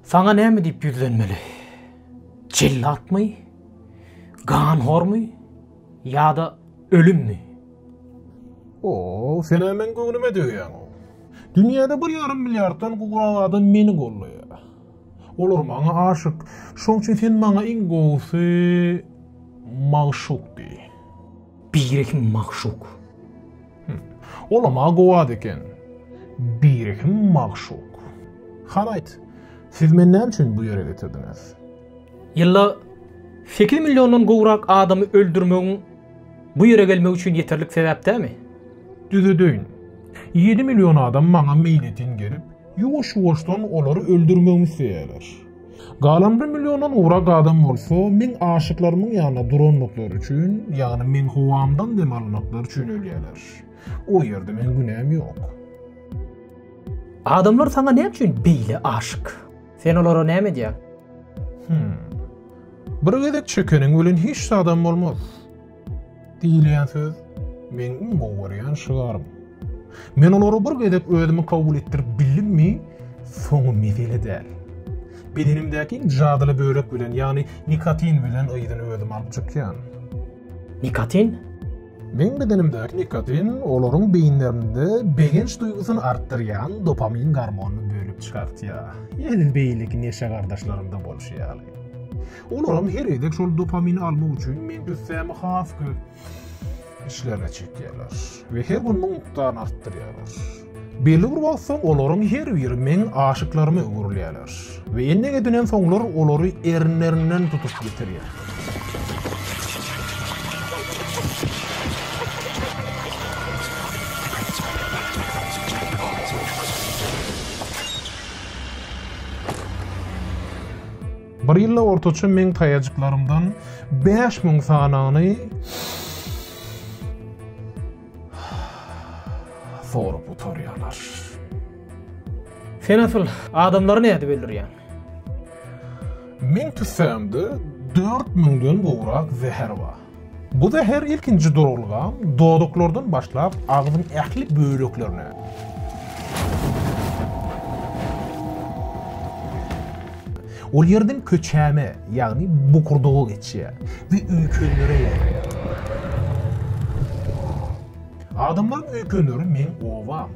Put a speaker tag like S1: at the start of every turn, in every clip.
S1: Saňa näme diýip ýüzlenmeli? Jellatmy? Ganhormy? Ýa-da ölümmi? O,
S2: sen-ä meň göwnüme degýäň. Dünýäde bir ýarym milliarddan gowrak adam meni gollaýar. Olar maňa aşyk. Şoň üçin sen maňa iň gowusy magşuk diý. Birehim
S1: magşuk.
S2: Olam-a gowy at eken. Birehim magşuk. Hany aýt, siz meni näme üçin bu ýere getirdiňiz? Ýylda
S1: sekiz milliondan gowrak adamy öldürmegiň bu ýere gelmegi üçin ýeterlik sebäp dämi? Düzedeýin.
S2: Ýedi million adam maňa meýletin gelip, ýuwaş-ýuwaşdan olary öldürmegimi isleýärler. Galan bir milliondan gowrak adam bolsa meň aşyklarymyň ýanyna durandyklary üçin, ýagny meň howamdan dem almaklary üçin ölýärler. O ýerde meň günäm ýok.
S1: Adamlar saňa näme üçin beýle aşyk? Sen olara näme edýäň? Hmm.
S2: Bir gezek çekeniň bilen hiç zadam bolmaz. Diýilýän söz meň iň gowy görýän şygarym. Men olary bir gezek özümi kabul etdirip bildimmi, soňy mesele däl. Bedenimdäki jadyly bölek bilen, ýagny nikotin bilen yzyny özüm alyp çykýan. Nikotin? Meň bedenimdäki nikotin olaryň beýinlerinde begenç duýgusyny artdyrýan dopamin gormonyny bölüp çykartýar. Ýene beýleki neşe gardaşlarymda bolşy ýaly. Olaryň her gezek şol dopamini almak üçin meň jüssämi has köp işlerine çekýärler we her gün muň mukdaryny artdyrýarlar. Belli bir wagt soň olaryň her biri meň aşyklaryma öwrülýärler we ennek edinen soňlar olary erinlerinden tutup getirýär. Bir ýylda ortaça meň taýajyklarymdan bäş müň sanagyny sorup gutarýarlar.
S1: Sen asyl adamlary nädip öldürýäň?
S2: Meň tüssämde dört müňden gowrak zäher bar. Bu zäher ilkinji duralga dodaklardan başlap agzyň ähli böleklerine, ol ýerden köçäme, ýagny bokurdaga geçýär we öýkenlere ýaýraýar. Adamlaryň öýkenleri meň obam.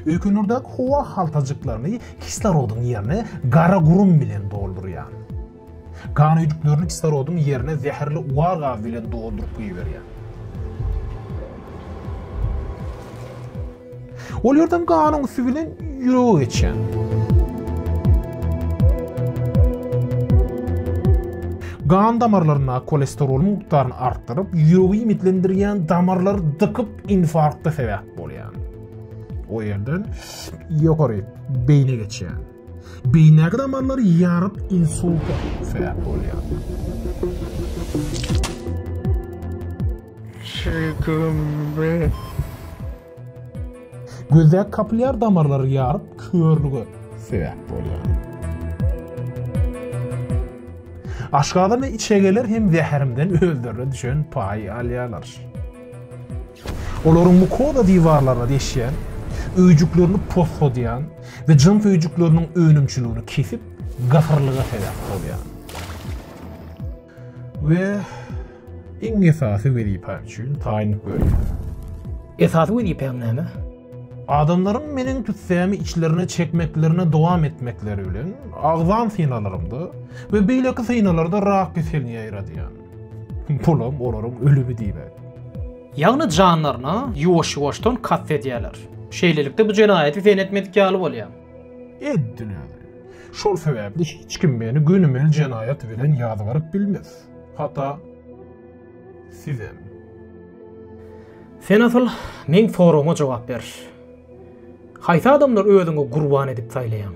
S2: Öýkenlerdäki howa haltajyklaryny kislorodyň ýerine gara gurum bilen doldurýan. Gan hüýjüklerini kislorodyň ýerine zäherli ugar gazy bilen dolduryp goýberýär. Ol ýerden ganyň üsti bilen ýürege geçýär. Gan damarlarynda kolesterol mukdaryny artdyryp, ýüregi iýmitlendirýän damarlary dykyp, infarkta sebäp bolýar. O ýerden ýokary beýne geçýär. Beýnäki damarlar ýaryp insulta sebäp bolýar. Şigümbi. Gözdäki kapillýar damarlary ýaryp körlüge sebäp bolýar. Aşgazan we içegeler hem zäherimden özlerine düşen paýy alýarlar. Olaryň mukoza diwarlaryna deşýän, öýjüklerini posgadýan we jyns öýjükleriniň önümçiligini kesip, gahyrlyga sebäp bolýar. We iň esasy wezipä üçin taýynlyk berýär. Esasy
S1: wezipäň näme? Adamlaryň
S2: meniň tüssämi içlerine çekmeklerini dowam etmekleri bilen agzan synalarymda we beýleki synalarda rak keselini ýaýradýan. Pulam olaryň ölümi diýmek. Ýagny
S1: janlaryna ýuwaş-ýuwaşdan kast edýärler. Şeýlelikde bu jenaýaty sen etmedik ýaly bolýar. Etdiler.
S2: Şol sebäpli hiç kim meni gönümel jenaýat bilen ýazgaryp bilmez. Hatda sizem.
S1: Sen asyl meň soragyma jogap ber. Haýsy adamlary özüňe gurban edip saýlaýaň?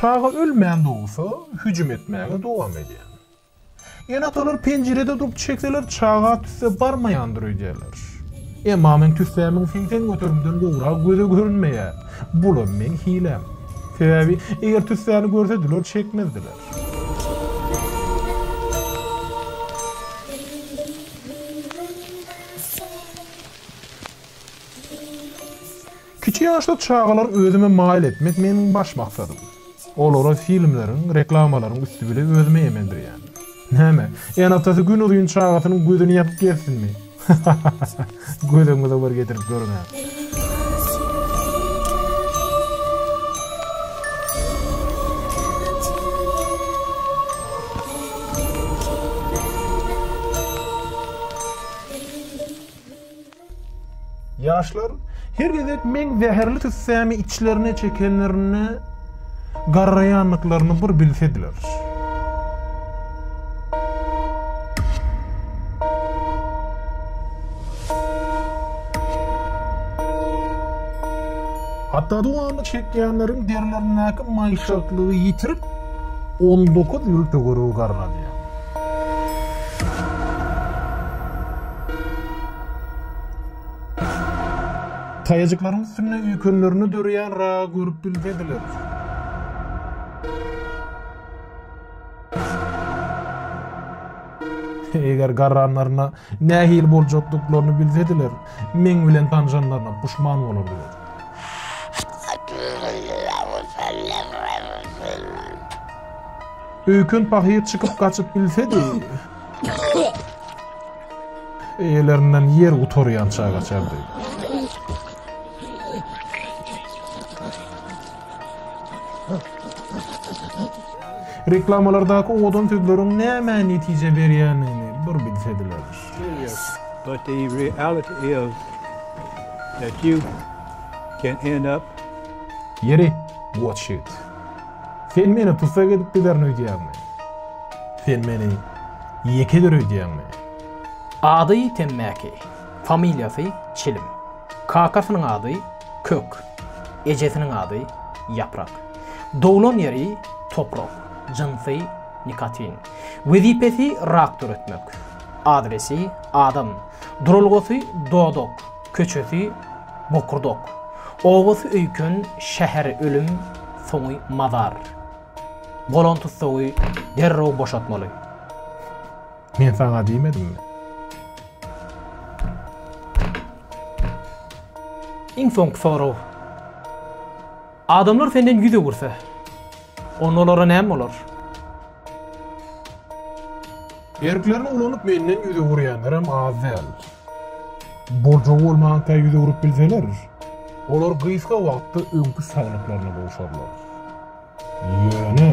S2: Çaga ölmän dogsa, hüjüm etmäge dowam edýär. Ene-atalar penjirede durup çekseler, çaga tüsse barmaýandyr öýdýärler. Emma meň tüssämiň segsen göterimden gowrak göze görünmeýär. Bulam meň hiläm. Sebäbi, eger tüssäni görsediler, çekmezdiler. Kiçi ýaşda çagalar özüme maýyl etmek meniň baş maksadym. Olara filmleriň, reklamalaryň üsti bile özüme emendirýän. Näme, ene-atasy günuzyn çagasynyň gözüni ýapyp gezsinmi? Gözüňize bir getirip görüň-ä. Ýaşlar her gezek meň zäherli tüssämi içlerine çekenlerinde Garraýandyklaryny bir bilsediler. Hatda dowamly çekýänleriň derilerindäki maýyşaklygy ýitirip, on dokuz ýyl töweregi garradýar. Taýajyklaryň üstünde üýkenlerini döreýän ragy görüp bilsediler. eger garranlaryna nähili boljakdyklaryny bilsediler, meň bilen tanşanlaryna puşman bolardylar. Öýken pahyr çykyp gaçyp bilsedi, Eýelerinden ýer gutarýan çagaçardy. Reklamalardaky owadan sözleriň nämä netije berýändigini bir bilsediler.
S3: But the reality is that you can end up Ýeri,
S2: watch it. Sen meni tussag edip giderin öýdýäňmi? Sen meni ýeke eder öýdýäňmi? Ady
S1: Temmäki, familiýasy Çilim. Kakasynyň ady Kök, ejesiniň ady Ýaprak. Doglan ýeri Toprak, jynsy nikotin. Wezipesi rak döretmek. Adresi Adam, duralgasy Dodak, Köçesi bokurdok. Obasy öýken şäher ölüm soňy mazar. Bolan tussagy derrew boşatmaly.
S2: Men saňa diýmedimmi?
S1: Iň soňky sorag. Adamlar senden ýüz öwürse. Onda olara näme bolar?
S2: Erklerini ulanyp menden ýüz öwürýänlerem az däl. Boljagy bolmanka ýüz öwrüp bilseler, olar gysga wagtda öňki saglyklaryna gowşarlar. Ýöne.